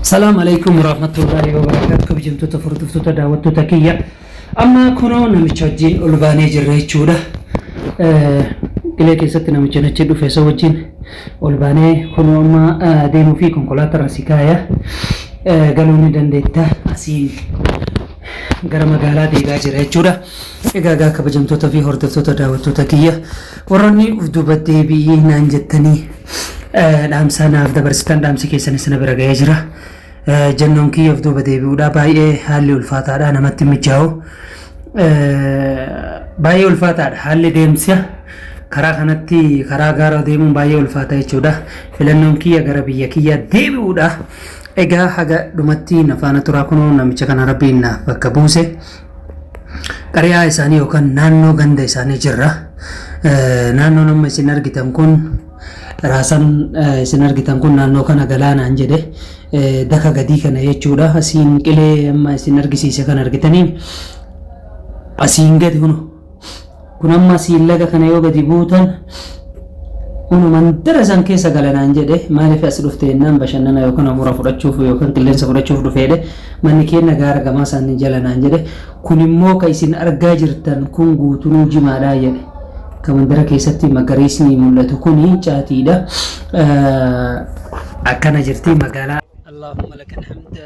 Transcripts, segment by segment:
Salaam alaikum warahmatullahi wabarakatuh kabajamtoota furdiftoota daawwattoota kiyya amma kunoo namicha wajjin ol baanee jirra jechuudha qilee keessatti namicha nachi dhufe isa wajjin ol baanee kunoo amma deemuu fi konkolaataa irra si kaaya galuu ni dandeetta asiin gara magaalaa deegaa jira jechuudha. Egaa egaa kabajamtoota fi hordoftoota daawwattoota kiyya warroonni uf duuba deebi'ii naan jettanii eh, dhaamsa naaf dabarsitan dhaamsi keessan isin bira ga'ee jira. Eh, Jennoon kiyya uf duuba deebi'uudha baay'ee haalli ulfaataadha namatti hin mijaa'u. Eh, Baay'ee ulfaataadha haalli deemsa karaa kanatti karaa gaara deemuun baay'ee ulfaata jechuudha. Filannoon kiyya gara biyya kiyya deebi'uudha. Egaa haga dhumatti na faana turaa kunoo namicha kana rabbiin naaf bakka buuse. Qari'aa isaanii yookaan naannoo ganda isaanii jirra. Naannoon amma isin argitan kun raasan isin argitan kun naannoo kana galaanaan jedhe daka gadii kana jechuudha. Asiin qilee amma isin argisiise kan argitaniin asiin gadi hunu. kun amma siin laga kana yoo gadi buutan unu mandara san keessa galanaan jedhe maaliif as dhufte jennaan bashannana yookaan hafuura fudhachuuf yookaan qilleensa fudhachuuf dhufeedhe manni keenya gaara gamaa isaanii jalanaan jedhe kun immoo ka isin argaa jirtan kun guutunuu jimaadhaa jedhe ka mandara keessatti magariisni mul'atu kuni caatiidha akkana jirti magaalaa Allahumma lakal hamda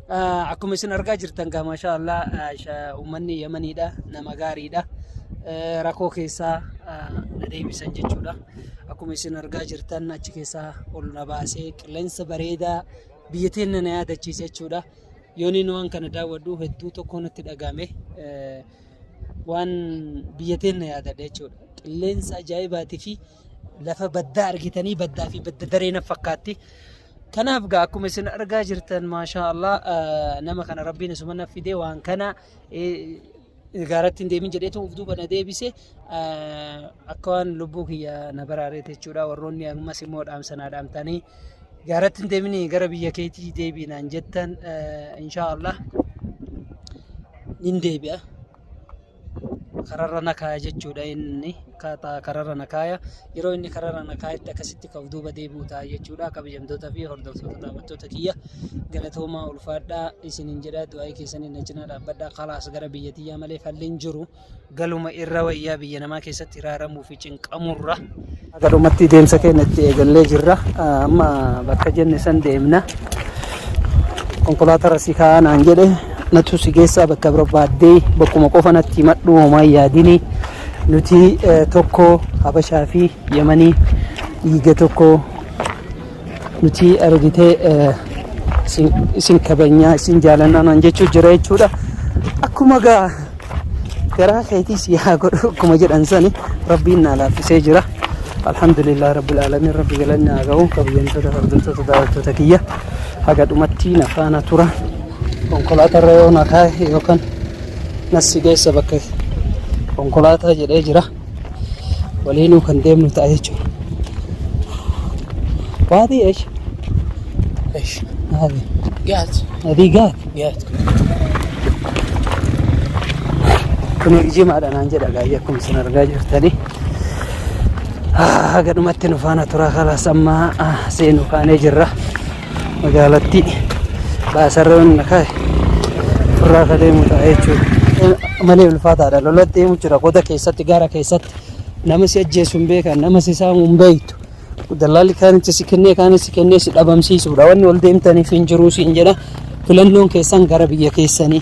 Akkuma isin argaa jirtan gaa maashaa Allah uummanni Yamaniidha nama gaariidha. Rakkoo keessaa na deebisan jechuudha. Akkuma isin argaa jirtan achi keessaa ol na baasee qilleensa bareedaa biyya teenya na yaadachiise jechuudha. Yooniin waan kana daawwadhu hedduu tokko natti dhagahame. Waan biyya teenya yaadadha jechuudha. Qilleensa ajaa'ibaatii fi lafa baddaa argitanii baddaa fi badda daree na fakkaatti. Kanaaf gaa akkuma isin argaa jirtan maashaa Allah eh, nama kana rabbiin isuma na fide waan kana eh, gaaratti hin deemin jedheetu of duuba na deebise eh, akka waan lubbuu kiyya na baraareete jechuudha warroonni ammas immoo dhaamsanaa dhaamtanii gaaratti hin deemin gara biyya keetii deebiinaan jettan eh, inshaa Allah nin deebi'a. kararra na kaaya jechuudha inni kararra na kaaya yeroo inni kararra na kaayetti akkasitti ka'u duuba deebi'u ta'a jechuudha kabajamtoota fi hordoftoota daawwattoota kiyya galatoomaa ulfaadhaa isiniin jedha du'aa'ii keessanii na cinaa dhaabbadhaa kalaas gara biyya tiyyaa malee falliin jiru galuma irra wayyaa biyya namaa keessatti hiraaramuu fi cinqamurra Haga dhumatti deemsa keenya itti eegallee jirra. Amma bakka jenne san deemna. Konkolaatarra si kaa'aa naan jedhe natu si geessaa bakka barbaaddee bakkuma qofa natti himadhu homaa hin yaadini. Nuti tokko Habashaa fi Yamanii dhiiga tokko nuti argitee eh, isin- isin kabajnaa isin jaalannaa naan jechuu jira jechuudha akkuma gaa garaa keetii si haa godhu akkuma jedhan sani rabbiin naa laaffisee jira alhamdulillah rabbil aalamiin rabbi galanni haa ga'u kabajamtoota hordoftoota daawwattoota kiyya haga dhumatti na faana tura konkolaataa irra yoo na kaa'e yookaan nassi geessa bakka konkolaataa jedhee jira waliinuu kan deemnu ta'a jechuudha. Waati eesh. Eesh. Naati. Gaati. Naati gaati. Gaati. Kun jimaadha naan jedha gaayya akkuma isin argaa jirtanii. Haga dhumatti nu faana turaa kalaas amma seenuu kaanee jirra. magaalattii baasarra yoon na kaa'e turraa akka deemu ta'a jechuudha. Malee ulfaataadha lolatti deemu jira goda keessatti gara keessatti nama si ajjeesu hin beekan nama si saamu hin beektu. Dallaalli kaanitti si kennee kaanis si kennee si dhabamsiisuudha wanni ol deemtaniif hin jiruu siin jedha filannoon keessan gara biyya keessanii.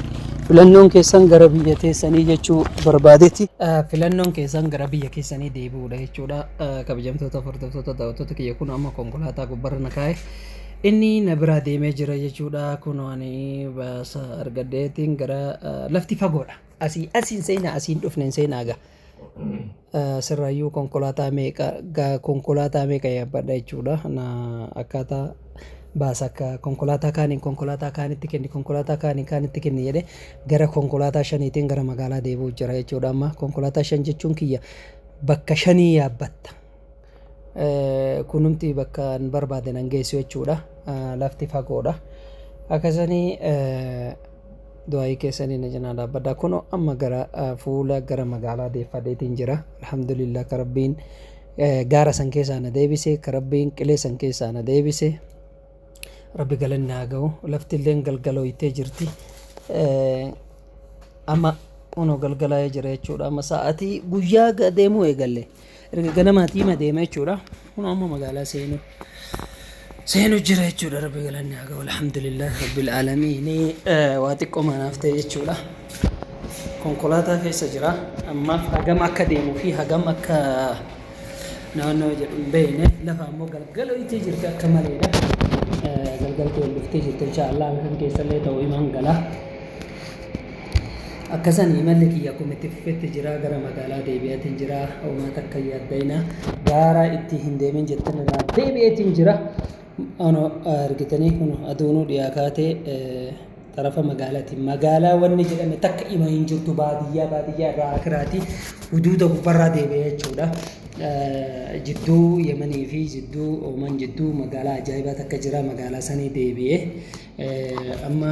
Filannoon keessan gara biyya teessanii jechuu barbaadetti. Filannoon keessan gara biyya keessanii deebi'uudha jechuudha. Kabajamtoota hordoftoota daawwattoota kiyya kun amma konkolaataa barana kaa'e inni na biraa deemee jira jechuudha kunoo ani baasa argadheetiin gara eh, lafti fagoodha asii asiin seenaa asiin dhufneen seenaa gaa Eh, sirraayyuu konkolaataa meeqa gaa konkolaataa meeqa yaabbadha jechuudha na akkaataa baasa akka konkolaataa kaaniin konkolaataa kaanitti kenni konkolaataa kaaniin kaanitti kenni jedhe gara konkolaataa shaniitiin gara magaalaa deebi'u jira jechuudha amma konkolaataa shan jechuun kiyya bakka shanii yaabbatta Kunumti bakka an barbaade nan geessu jechuudha. Lafti fagoodha. Akka sanii du'aa'ii keessanii na cinaa dhaabbadhaa. Kunoo amma gara fuula gara magaalaa deeffadeetiin jira. Alhamdulillah ka Rabbiin gaara san keessaa na deebise, ka Rabbiin qilee san keessaa na deebise. Rabbi galanni haa ga'u. Lafti illeen galgalooytee jirti. Eh, Amma kunoo galgalaa'ee jira jechuudha. Amma sa'aatii guyyaa ga- deemuu eegalle. Erga ganamaatii hima deema jechuudha. Kunoo amma magaalaa seenuu. Seenuu jira jechuudha. Rabbi galanni haa ga'u. Alhamdulillah Rabbil Aalamiin. Eh, Waa xiqqoo maanaaf ta'e jechuudha. Konkolaataa keessa jira. Ammaaf hagam akka deemuu fi hagam akka naannoo jedhu hin beekne lafa ammoo galgala itti jirti akka maleedha galgalti wal dhuftee jirti inshaallah halkan keessallee ta'u imaan gala akkasan imalli kiyya kun itti fufetti jira gara magaalaa deebi'atiin jira uumaa takka yaaddayna gaara itti hin deemin jettan irraa deebi'atiin jira ono argitanii kun aduunuu dhiyaa kaatee Xarafa magaalati. Magaalaa wanni jedhame takka ima hin jirtu baadiyyaa baadiyyaa irraa akiraati huduuda gubbarraa deebi'e jechuudha. Jidduu Yemanii fi jidduu Ooman jidduu magaalaa ajaa'ibaa takka jira magaalaa sanii deebi'e. Amma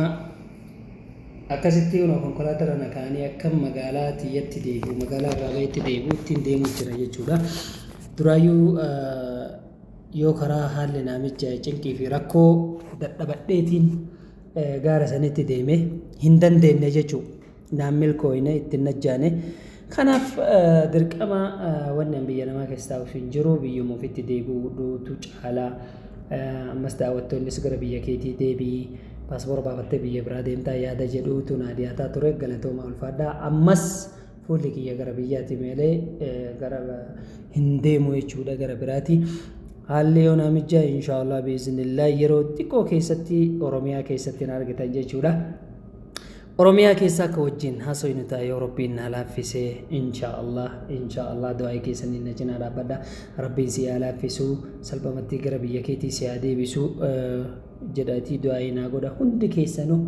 akkasitti kunoo konkolaataa irra nakaa'anii akka magaalaa tiyyatti deebi'u magaalaa irraa bahetti deebi'u ittiin deemuu jira jechuudha. Duraayyuu yoo karaa haalli naamichaa cinqii fi rakkoo dadhabadheetiin gaara sanitti deeme hin dandeenne jechuu naan milkooyne ittiin najjaane kanaaf dirqama wanni an biyya namaa keessaa of hin jiru biyyuma ofitti deebi'uudhuutu caalaa ammas daawwattoonnis gara biyya keetii deebi'i paaspoora baafattee biyya biraa deemtaa yaada jedhuutu naa dhiyaataa ture galatoomaa ulfaadhaa ammas fuulli kiyya gara biyyaati meelee gara hin deemu jechuudha gara biraati. Haalli yoo naa mijjaa inshaallah biiznillaa yeroo xiqqoo keessatti Oromiyaa keessatti na argitan jechuudha. Oromiyaa keessa akka wajjin haasofnu ta'a yoo Rabbiin na laaffise inshaallah inshaallah du'aa'ii keessaniin na cinaa dhaabbadha. Rabbiin si haa laaffisu salphamatti gara biyya keetii si haa deebisu jedhaatii du'aa'ii naa godha hundi keessanuu.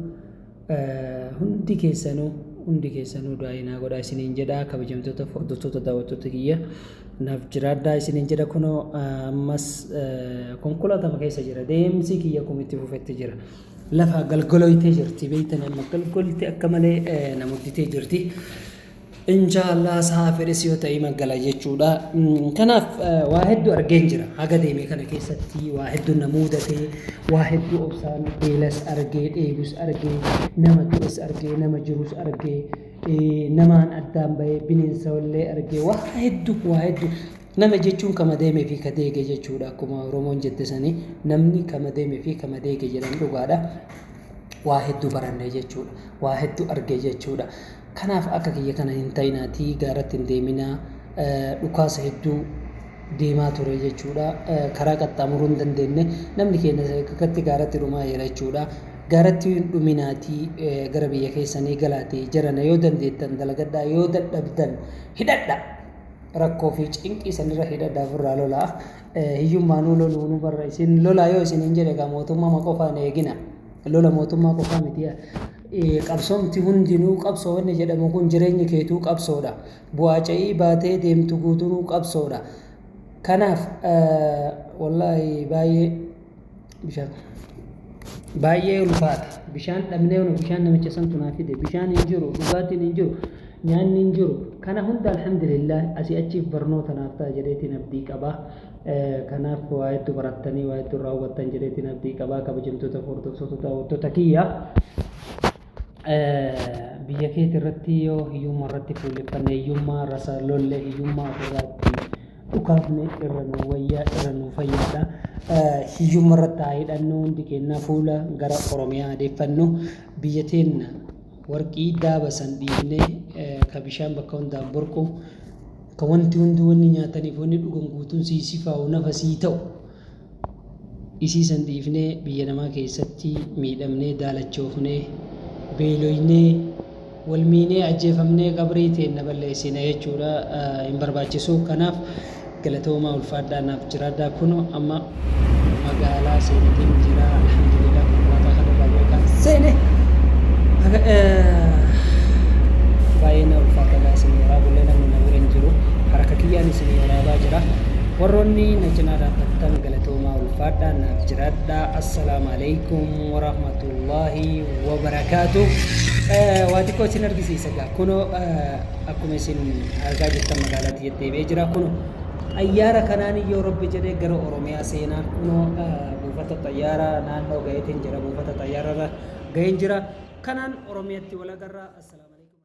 hundi keessanuu hundi keessanuu du'aa'ii naa godhaa isiniin jedha kabajamtoota hordoftoota daawwattoota kiyya naaf jiraadhaa isiniin jedha kunoo ammas konkolaatama keessa jira deemsi kiyya kumitti fufetti jira lafa galgoloytee jirti beeytan amma galgolte akka malee na mudditee jirti Inshaallah saafiris yoo ta'e ima gala jechuudha. Kanaaf waa hedduu argeen jira. Haga deeme kana keessatti waa hedduu na muudate, waa hedduu obsaan beelas argee, dheebus argee, nama du'es argee, nama jirus argee, namaan addaan bahee bineensa illee argee waa hedduu waa hedduu Nama jechuun kama deeme fi ka deege jechuudha akkuma Oromoon jette sani namni kama deeme fi kama deege jedhan dhugaadha. Waa hedduu baranne jechuudha. Waa hedduu arge jechuudha. Kanaaf akka kiyya kana hin ta'inaatii gaaratti hin deeminaa dhukaasa hedduu deemaa ture jechuudha. Karaa qaxxaamuruu hin dandeenye namni keenya sadarkatti gaaratti dhumaa jira jechuudha. Gaaratti hin dhuminaatii gara biyya keessanii galaatii jarana yoo dandeettan dalagadhaa yoo dadhabdan hidhadha. rakkoo fi cinqii sanirra hidha daafurraa lolaa hiyyummaanuu loluu nu barra isin lolaa yoo isin hin jedhe egaa mootummaa qofaa hin eegina lola mootummaa qofaa miti qabsoomti hundinuu qabsoo wanni jedhamu kun jireenyi keetuu qabsoodha bu'aa ca'ii baatee deemtu guutunuu qabsoodha kanaaf wallaahi baay'ee bishaan baay'ee ulfaata bishaan dhabnee nu bishaan namicha santu naa fide bishaan hin jiru dhugaatiin hin jiru nyaanni hin jiru kana hunda alhamdulillah asii achiif barnoota naaf ta'a jedheetiin abdii qabaa kanaaf waa hedduu barattanii waa hedduu irraa hubattan jedheetiin abdii qabaa kabajamtoota hordoftoota daawwattoota kiyya biyya keeti irratti yoo hiyyumma irratti fuulleffanne hiyyummaa rasa lolle hiyyummaa ofirraa itti dhukaafne irra nu wayyaa irra nu fayyaadha. Hiyyumma irratti haa hidhannu hundi keenya fuula gara Oromiyaa adeeffannu biyya teenna warqii daaba san dhiifne ka bishaan bakka hundaan burqu ka wanti hundi wanni nyaataniif wanni dhugan guutuun sii sifaa'u nafa sii ta'u. Isii san dhiifnee biyya namaa keessatti miidhamnee daalachoofnee, beeloynee, wal miinee, ajjeefamnee qabrii teenna balleessina jechuudha hin barbaachisu. Kanaaf galatoomaa ulfaadhaa naaf jiraadhaa kuno amma magaalaa seenetiin jira alhamdulillah konkolaataa kanarraa beekaan seene baay'ee na ulfaata gaa isin waraa bullee namni na bira hin jiru haraka kiyyaan isin waraabaa jira. Warroonni na cinaa dhaabbattan galatoomaa ulfaadhaa naaf jiraadhaa assalaamu alaikum warahmatullaahi wabarakaatu waa xiqqoo isin argisiisa gaa kunoo akkuma isin argaa jirtan magaalaa tiyya deebi'ee jira kunoo xayyaara kanaan yoo rabbi jedhee gara oromiyaa seenaa kunoo buufata xayyaara naannoo gaheetiin jira buufata xayyaararra gaheen jira kanaan oromiyatti wal agarra assalaamu